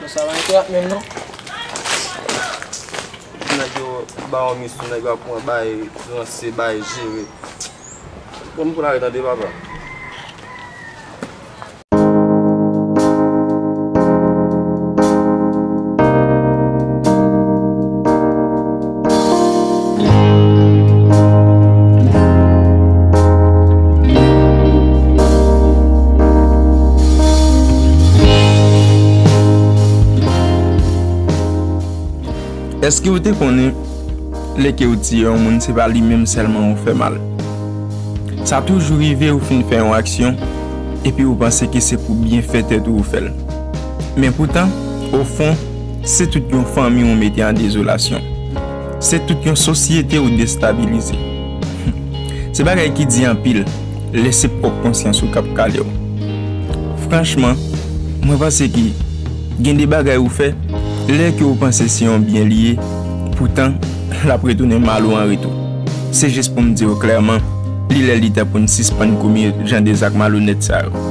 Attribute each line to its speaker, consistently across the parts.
Speaker 1: Bon sa pa engra menm non.
Speaker 2: Pou nèg yo baw mis pou nèg yo ap pran bay ranse bay jere. Bon m pral tande papa.
Speaker 3: Eske ou te konnen lè ke ou tiye yon moun se pa li menm sèlman ou fè mal? Sa toujou rive ou fin fè yon aksyon epi ou panse ke se pou byenfè tèt ou ou fè l. Men poutan, ofon, Se tout yon fanmi ou mete an dezolasyon. Se tout yon sosyete ou destabilize. Se bagay ki di anpil lè se pwòp konsyans ou k ap kale w. Franchman, mwen panse ke gen de bagay ou fè lè ke ou panse se yon byen li ye, poutan l ap retounen mal ou an retou. Se jis pou m di w klèman, li lè li tan pou n sispann komit jan de zak malonèt sa yo.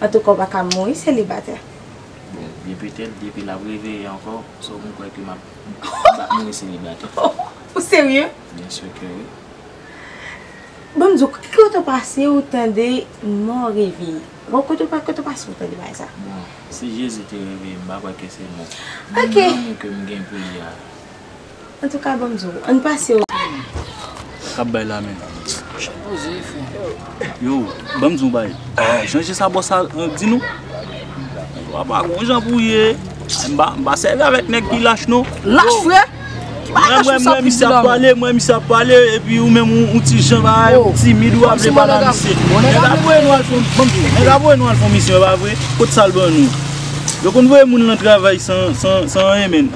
Speaker 4: Antouka ou paka mouri selibatè. Bon
Speaker 5: byen petèt depi lap reveye ankò so m kwè ke map map mouri selibatè. Ou serye?
Speaker 4: Byen sûr ke wi. Banm di w ki kote ou pase ou tande mò reveye? Bon kote ou kote ou pase ou tande bagay sa? Bon si Jezi
Speaker 5: te reveye m pa kwè ke se mò. Ok. Menm lanmou ke m
Speaker 4: gen pou li
Speaker 5: a.
Speaker 4: Antouka banm di w, ann pase w. Kap
Speaker 6: bay la menm. Chak poze e fre. Yo, banm di w bagay. Jan je sa bò sa di nou. Antouka pa gon jan pou ye. M pa sèvi avèk nèg ki lach non. Lach fre? Ki
Speaker 1: bagay lach
Speaker 6: pou sa pou di la menm? Mwen misye ap pale epi ou menm ou ti jan bagay ou timid ou pa vle pale ak misye. Nèg ap voye nou al fon misyon. Banm di w, nèg ap voye nou al fon misyon e pa vre? Kot sa l ban nou? Yo konn voye moun lan travay san anyen menn.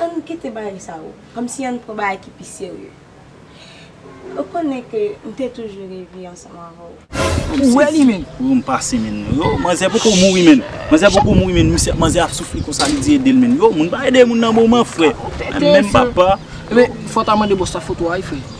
Speaker 4: Ann kite bagay sa yo. Kom si ann pran bagay ki pi serye. Ou konnen ke m te toujou reve ansanm avè w. Ou wè li menn. Ou
Speaker 1: m pase menn.
Speaker 6: Yo manzè poko mouri menn. Manzè poko mouri menn. Misye manzè ap soufri konsa li di ede l menn. Yo moun pa ede moun nan moman frè. Menm papa. Fò ta
Speaker 1: mande bòs la foto a wi frè.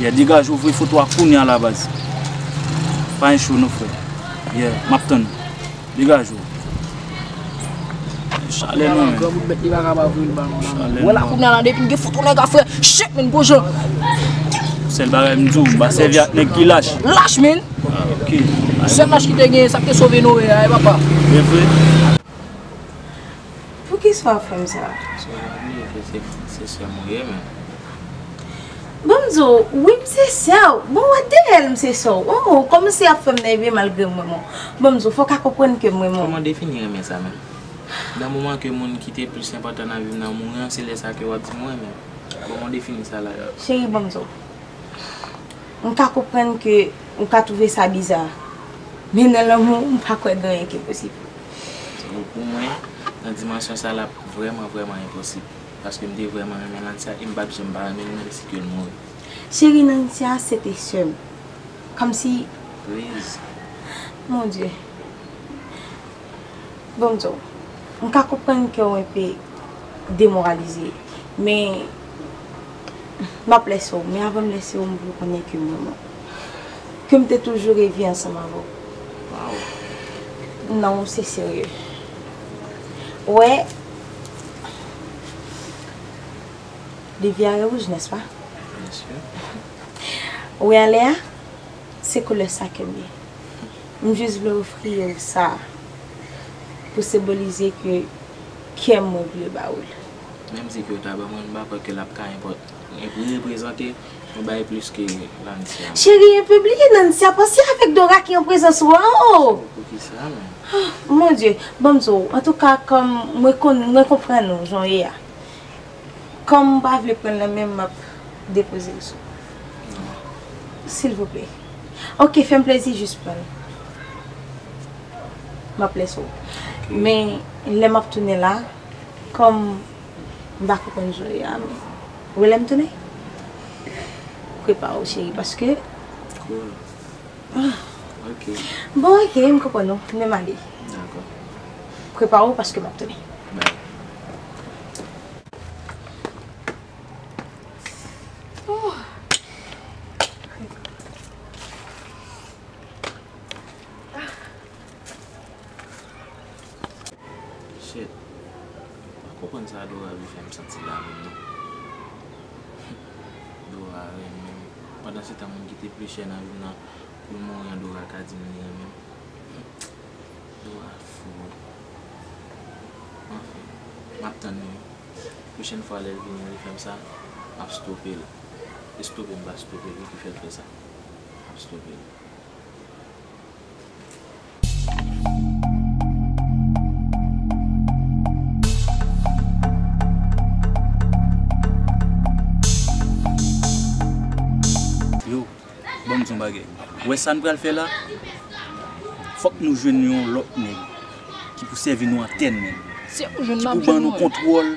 Speaker 6: Yeah degaj ouvri foto a kounya la baz Pa gen cho non frè Yeah map tann ou Degaj ou Gen chalè nan menm Granmoun met li paka pa voye l ba nou la Wè
Speaker 1: la kounya la depi m gen foto nèg a frè Shit menn gwo jan.
Speaker 6: Sèl bagay m di w m pa sèvi ak nèg ki lach Lach menn Sèl lach ki
Speaker 1: te genyen sa k te sove Noe a e papa. Evre.
Speaker 4: Poukisa wap fem sa. Sou yon li e ke
Speaker 5: se sèm ou ye men. Banm di w
Speaker 4: wi m se sè w. Bon wè deyèl m se sè w. Oh ou komanse ap fem nève malgre m renmen w. Banm di w fok a konprann ke m renmen w. Koman w defini renmen sa
Speaker 5: menm. Nan moman ke moun ki te plis enpotan nan vi m nan mouri an se lè sa ke wap di m ou renmen m. Koman w defini sa la. Cheri banm di w.
Speaker 4: M ka konprann ke ou ka twouve sa biza. Men nan lanmou m pa kwè gen anyen ki posib. Donk pou
Speaker 5: mwen, nan dimansyon sa l ap vrèman vrèman enposib. Paske m te vrèman renmen Nansia e m pa p janm pa renmen l menm si ke l mouri. Cheri Nansia
Speaker 4: se te sè m. Kòmsi. Pliz.
Speaker 5: Mon
Speaker 4: Dye. Bon m di w, m ka konprann ke w enpe demoralize. Men, M ap lèse w, men avan m lèse w, m vle w konnen ke m renmen w. Ke m te toujou reve ansanm avè w. Waww. Non, se serye. Ou wè, Livyare wouj, nèspa? Byensi. Ou wè ale a? Se koulè sa ke m ye. M jis vle ofri w sa pou senbolize ke kè m mwen vle ba w li. Menm si
Speaker 5: Kyota ba mwen, m pa kwè ke l ap ka reprezante yon bagay plis ke Lancia. Cheri e pe bliye
Speaker 4: Nancia panse avek Dora ki an prezans ou a oo. Poukisa menm? Oh mon Dieu bon m di w antouka kòm mwen konn mwen konprann ou jan w ye a kòm ou pa vle pran l nan men m m ap depoze l sou Non. Silvouplè ok fè m plezi jis pran l m ap lèse w men lè m ap tounen la Kòm m pa konprann jwe a m rele m tounen? Prepare w cheri paske
Speaker 5: Bon
Speaker 4: ok m konprann ou men m ale Prepare w paske m ap tounen
Speaker 5: Shit m pa konprann sa Dorah vin fèm santi la menm non Dorah renmenm pandan se tan moun ki te pli chè nan vim nan poul mouri an Dorah ka dim li renmenm Dorah fou wi anfen map tann li pwochèn fwa lèl vini li fèm sa map stopel e stope m pa stopel wi ki fèl fè sa map stopel.
Speaker 6: Yo, ban m di yon bagay. Ou wè sa n pral fè la? Fòk nou jwenn yon lòt nèg ki pou sèvi nou antèn, ki pou
Speaker 1: ban nou kontwòl.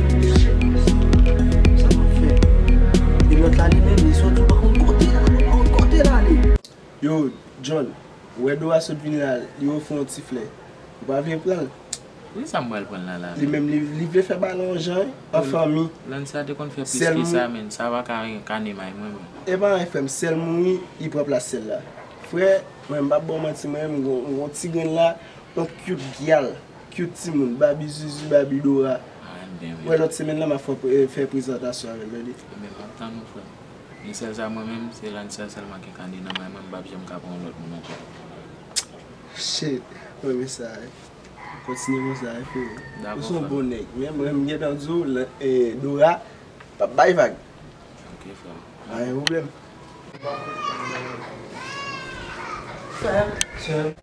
Speaker 6: Mesye sa map fè. E lòt la li menm li sòti ou pa konn kote la ou pa konn kote l ale. Yo John, ou wè Dora sot vini la li ofri w yon ti flè. Ou pa vle pran l? Wi sa m pral
Speaker 5: pran la la. Li menm li vle fè
Speaker 6: bagay la yon jan wi, an fanmi. Lanca te konn fè
Speaker 5: plis ke sa menn, sa pa ka renkane may mwen menm. Epa anyen frè m, sè
Speaker 6: l mouri li pran plas sè l la. Frè, mwen m pap ba w manti mwen menm m gen yon ti grenn la, yon cute gyal. Cute timoun, baby zuzu, baby dora. Wè lòt semèn lan map fè prezantasyon avèl ready. Ebyen map tann ou frèm.
Speaker 5: Yon sèl sa mwen menm se Lancer sèlman ki ka de nan may mwen mpap janm ka pran yon lòt moun ankò.
Speaker 6: Shit m renmen sa wi. Kontinye konsa wi freo. Ou son bon
Speaker 5: nèg. Men
Speaker 6: mwen m gentan di w Dora pap bay vag. Ok freo.
Speaker 5: Pa gen pwoblèm.
Speaker 6: Freo.
Speaker 4: Sèm.